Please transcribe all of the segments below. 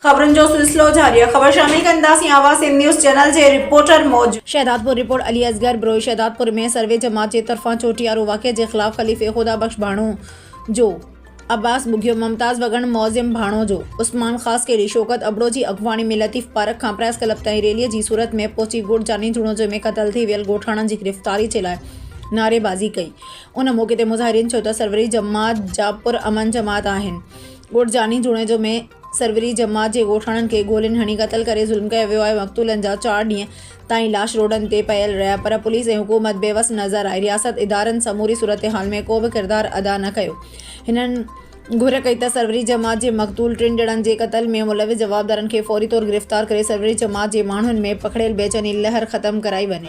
خبرن جو سلسلو جاري آهي خبر شامل ڪنداسين آواز سنڌ نيوز چينل جي رپورٽر موجب. شهدادپور، رپورٽ علي اصغر بروهي، شهدادپور ۾ سروي جماعت جي طرفان چوٽيارو واقعي جي خلاف خليفي خدا بخش ڀاڻو جو عباس ٻگهيو، ممتاز وڳڻ، معظم ڀاڻو جو عثمان خاص کهڙي، شوڪت ابڙو جي اڳواڻي ۾ لطيف پارڪ کان پريس ڪلب تائين ريلي جي صورت ۾ پهچي ڳوٺ جاني جوڻوجو ۾ قتل ٿي ويل ڳوٺاڻن جي گرفتاري جي لاء نعريبازي ڪئي ان موقعي تي مظاهرين چيو ته سروري جماعت جا پرامن جماعت آهن ڳوٺ جاني جوڻيجو ۾ سروري جماعت جي ڳوٺاڻن کي گولين هڻي قتل ڪري ظلم ڪيو ويو آهي مقتولن جا چار ڏينهن تائين لاش روڊن تي پيل رهيا پر پوليس ۽ حڪومت بي وس نظر آئي رياست ادارن سموري صورتحال ۾ ڪو به ڪردار ادا نه ڪيو هنن گهر ڪئي ته سروري جماعت جي مقتول ٽن ڄڻن جي قتل ۾ ملوث جوابدارن کي فوري طور گرفتار ڪري سروري جماعت جي ماڻهن ۾ پکڙيل بيچيني لهر ختم ڪرائي وڃي.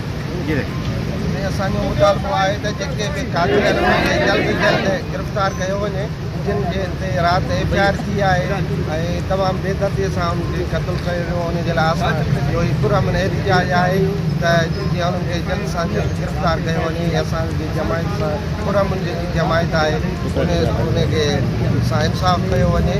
۾ اسان جو مطالبو آهي ته جيڪي به قاتل آهن انهن کي جلد کان جلد گرفتار ڪيو وڃي جن جي تي رات ايف آء آر ٿي آهي ۽ تمام بي دردي سان انهن کي قتل ڪيو ويو ان جي لاء اسان جو هي پر امن احتجاج آهي ته جيئن انهن کي جلد سان جلد گرفتار ڪيو وڃي ۽ اسان جي جماعت سان پر امن جيڪي جماعت آهي ان کي سان انصاف ڪيو وڃي.